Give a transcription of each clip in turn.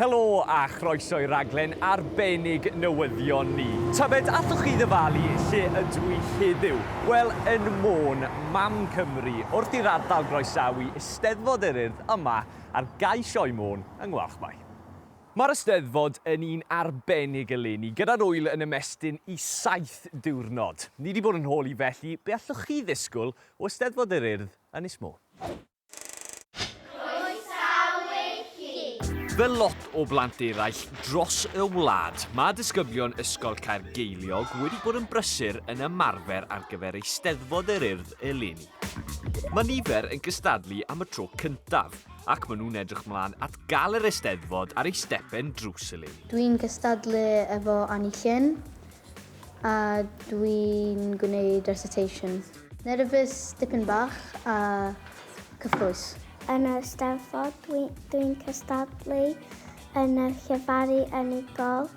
Helo a chroeso i raglen arbennig newyddion ni. Tybed allwch chi ddyfalu lle ydw i heddiw? Wel, yn Môn, mam Cymru, wrth i'r ardal groesawu Eisteddfod yr Urdd yma ar gau Sioe Môn yng Ngwalchmai. Mae'r Eisteddfod yn un arbennig eleni, gyda'r ŵyl yn ymestyn i saith diwrnod. Ni 'di bod yn holi i felly be allwch chi ddisgwyl o Eisteddfod yr Urdd, Ynys Môn? Croesawu chi! Fel lot o blant eraill dros y wlad, mae disgyblion Ysgol Caergeiliog wedi bod yn brysur yn ymarfer ar gyfer Eisteddfod yr Urdd eleni. Mae nifer yn gystadlu am y tro cyntaf ac maen nhw'n edrych mlaen at gael yr Eisteddfod ar ei stepen drws eleni. Dwi'n gystadlu efo Annie Llyn a dwi'n gwneud recitation. Nerfus dipyn bach a cyffrous. Yn y Steddfod dwi, dwi'n cystadlu yn y llefaru unigol,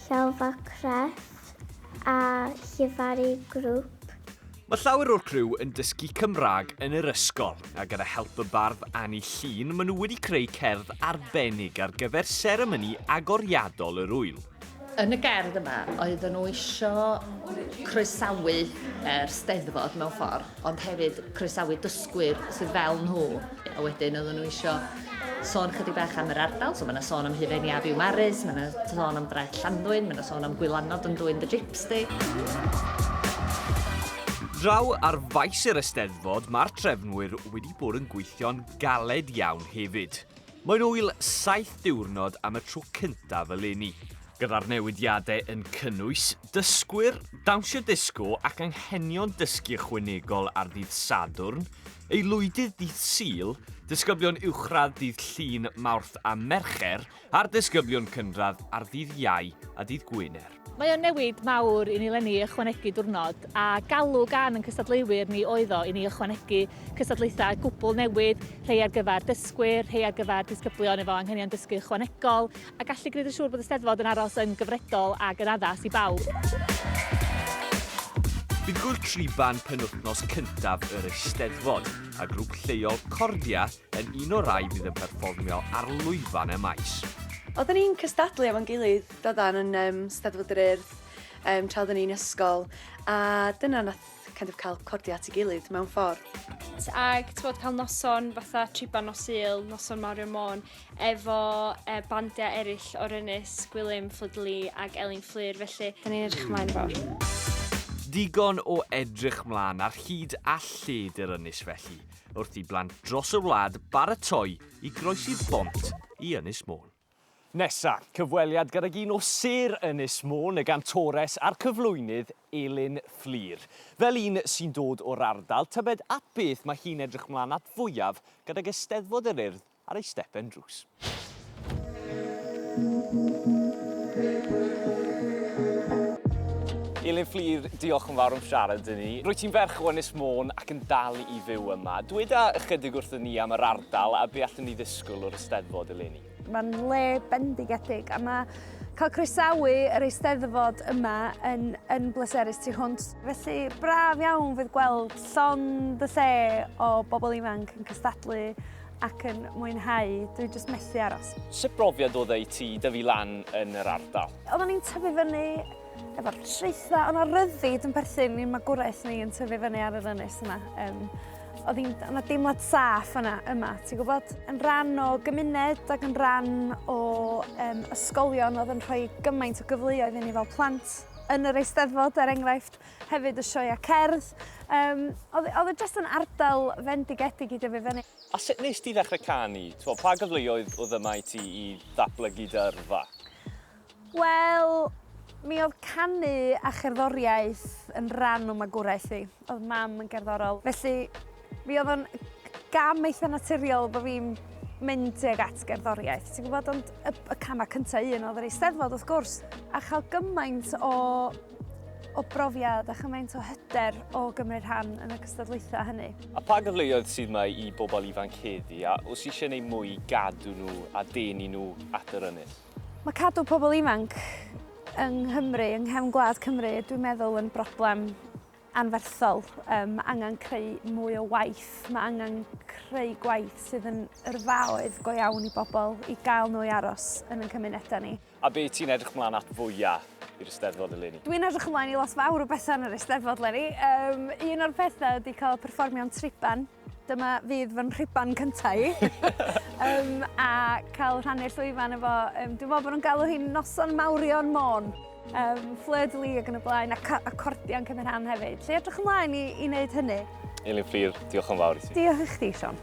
llelfa crefft a llefaru grŵp. Mae llawer o'r criw yn dysgu Cymraeg yn yr ysgol, a gyda help y bardd Anni Llun, maen nhw wedi creu cerdd arbennig ar gyfer seremoni agoriadol yr ŵyl. Yn y gerdd yma, oedden nhw eisiau croesawu yr Steddfod mewn ffordd, ond hefyd croesawu dysgwyr sydd fel nhw, a wedyn oedden nhw eisiau sôn ychydig bach am yr ardal, so mae yna sôn am Hufen Iaf i'w Maris, mae yna sôn am Draeth Llanddwyn, mae yna sôn am Gwylanod yn dwyn dy jips di. Draw ar faes yr Eisteddfod, mae'r trefnwyr wedi bod yn gweithio'n galed iawn hefyd. Mae'n wyl saith diwrnod am y tro cyntaf eleni. Gyda'r newidiadau yn cynnwys dysgwyr, dawnsio disgo ac anghenion dysgu ychwanegol ar ddydd Sadwrn, Aelwydydd Dydd Sul, disgyblion uwchradd Dydd Llun, Mawrth a Mercher, a'r disgyblion cynradd ar Ddydd Iau a Dydd Gwener. Mae o'n newid mawr i ni lenni ychwanegu diwrnod, a galw gan yn cystadleuwyr ni oedd o i ni ychwanegu cystadlaethau gwbl newydd, rhei ar gyfer dysgwyr, rhei ar gyfer disgyblion efo anghenion dysgu ychwanegol, a gallu gwneud yn siŵr bod y Steddfod yn aros yn gyfredol ac yn addas i bawb. Bydd gŵyl triban penwythnos cyntaf yr Eisteddfod, a grŵp lleol Cordia yn un o'r rhai fydd yn perfformio ar lwyfan y maes. Oedden ni'n cystadlu efo'n gilydd doeddan yn yym Steddfod yr Urdd yym tra oedden ni'n ysgol a dyna nath kind of cael Cordia at ei gilydd mewn ffordd. Ag t'mod cael noson fatha triban nos Sul, noson mawr i'r Môn, efo y bandiau eraill o'r ynys, Gwilym, Fflydli ac Elin Fflur, felly da ni'n edrych ymlaen fawr. Digon o edrych mlaen ar hyd a lled yr ynys felly, wrth i blant dros y wlad baratoi i groesi'r bont i Ynys Môn. Nesa, cyfweliad gydag un o sêr Ynys Môn, y gantores a'r cyflwynydd Elin Fflur. Fel un sy'n dod o'r ardal, tybed at beth mae hi'n edrych mlaen at fwyaf gydag Eisteddfod yr Urdd ar ei stepen drws. Elin Fflur, diolch yn fawr am siarad i ni. Rwyt ti'n ferch o Ynys Môn ac yn dal i fyw yma. Dweda ychydig wrthyn ni am yr ardal a be allwn ni ddisgwyl o'r Eisteddfod eleni. Mae'n le bendigedig a mae cael croesawu yr Eisteddfod yma yn, yn bleserus tu hwnt. Felly braf iawn fydd gweld llond y lle o bobl ifanc yn cystadlu ac yn mwynhau, dwi jyst methu aros. Sut brofiad oedd e i ti dyfu lan yn yr ardal? Oeddwn i'n tyfu fyny efo'r traethau, ond ar ryddid yn perthyn i'n magwraeth ni yn tyfu fyny ar yr ynys yna. Um, oedd hi'n yna deimlad saff yna, yma, ti'n gwybod, yn rhan o gymuned ac yn rhan o um, ysgolion oedd yn rhoi gymaint o gyfleoedd i ni fel plant yn yr eisteddfod, er enghraifft. Hefyd y sioeau cerdd. Um, oedd, oedd e jyst yn ardal fendigedig i dyfu fyny. A sut nes ti ddechrau canu? Twa, pa gyfleoedd oedd yma i ti i ddatblygu dy yrfa? Wel, mi oedd canu a cherddoriaeth yn rhan o magwraeth fi. Oedd mam yn gerddorol. Felly, mi oedd o'n gam eitha naturiol bod fi'n mynd tuag at gerddoriaeth. Ti'n gwybod, ond y, y camau cyntaf un oedd yr eisteddfod, wrth gwrs. A chael gymaint o o brofiad a chymaint o hyder o gymryd rhan yn y cystadlaethau hynny. A pa gyfleoedd sydd mae i bobl ifanc heddi a os eisiau gwneud mwy i gadw nhw a denu nhw at yr ynys? Mae cadw pobl ifanc yng Nghymru, yng nghefn gwlad Cymru, dwi'n meddwl yn broblem anferthol. Um, mae angen creu mwy o waith, mae angen creu gwaith sydd yn yrfaoedd go iawn i bobl i gael nhw i aros yn ein cymunedau ni. A be ti'n edrych mlaen at fwya i'r Eisteddfod eleni? Dwi'n edrych ymlaen i lot fawr o bethau yn yr Eisteddfod eleni. Um, un o'r pethau ydy cael perfformio'n triban. Dyma fydd fy nhriban cyntaf i. um, a cael rhannu'r llwyfan efo... Um, dwi'n meddwl bod nhw'n galw hi'n noson mawrion môn. Um, Fleur de Lis ac yn y blaen, a, a cordian cymryd rhan hefyd. Lle edrych ymlaen i, i wneud hynny? Elin Fflir, diolch yn fawr i ti. Diolch i chdi, Sean.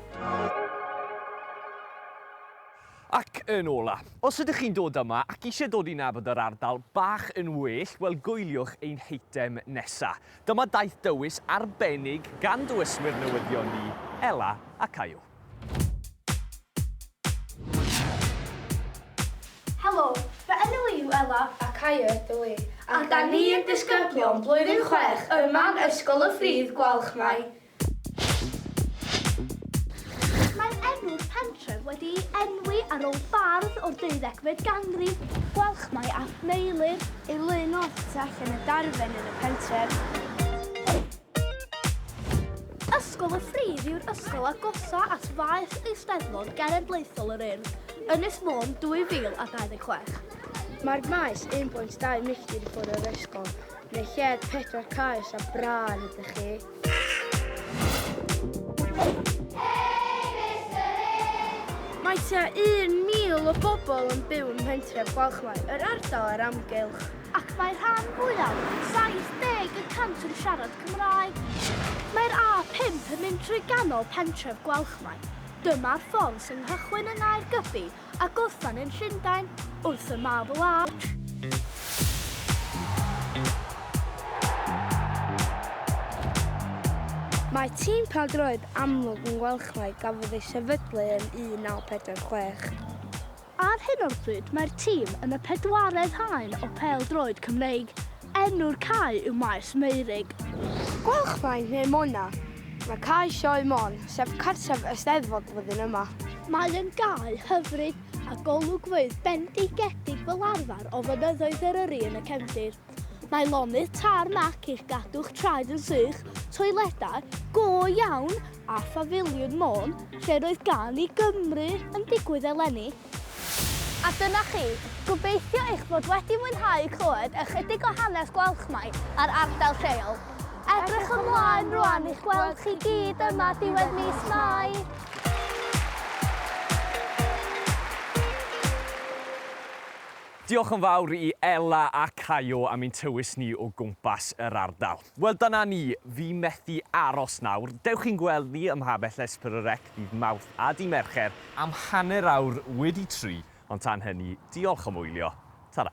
Ac yn ola', os ydych chi'n dod yma ac eisiau dod i nabod yr ardal bach yn well, wel gwyliwch ein heitem nesa'. Dyma daith dywys arbennig gan dywyswyr newyddion ni, Ella a Caio. Helo, fy enw i yw Ella a Caio ydw i, a 'da ni yn disgyblion blwyddyn chwech yma yn Ysgol y Ffridd Gwalchmai. Mae enw'r pentref wedi ei enwi ar ôl bardd o'r deuddegfed ganrif. Gwalchmai ap Meilir ei lun o y tu allan y darfen yn y pentref. Ysgol y Ffridd yw'r ysgol agosaf at faes Eisteddfod Genedlaethol yr Urdd, Ynys Môn 2026. Mae'r maes 1.2 milltir i ffwrdd o'r ysgol, yn y lled pedwar caeus a brân ydych chi. Mae tua 1,000 o bobl yn byw yn mhentref Gwalchmai, yr ardal a'r amgylch. Ac mae rhan fwyaf, 70 y cant yn siarad Cymraeg. Mae'r A5 yn mynd trwy ganol pentref Gwalchmai. Dyma'r ffordd sy'n nghychwyn yng Nghaergybi a gorffen yn Llundain wrth y Marble Arch. Mae tîm pêl-droed amlwg yn Welchmai gafodd ei sefydlu yn 1946. Ar hyn o'r bryd mae'r tîm yn y pedwaredd haen o pêl-droed Cymreig. Enw'r cae yw Maes Meurig. Gylchfaen neu Mona. Mae Cae Sioe Môn, sef cartref Eisteddfod flwyddyn yma. Mae'n gae hyfryd a golygfeydd bendigedig fel arfer o Fynyddoedd Eryri yn y cefndir. Mae lonydd tarmac i'ch gadw'ch traed yn sych, toiledau go iawn a phafiliwn Môn lle'r oedd gân i Gymru yn digwydd eleni. A dyna chi. Gobeithio eich bod wedi mwynhau clywed ychydig o hanes Gwalchmai a'r ardal lleol. Edrych ymlaen rwan i'ch gweld chi gyd yma diwedd mis Mai! Diolch yn fawr i Ela a Caio am ein tywys ni o gwmpas yr ardal. Wel dyna ni, fi methu aros nawr. Dewch i'n gweld ni ym Mha Bell Espr y Rec ddydd Mawrth a dy Mercher am hanner awr wedi tri, ond tan hynny, diolch am wylio, tara.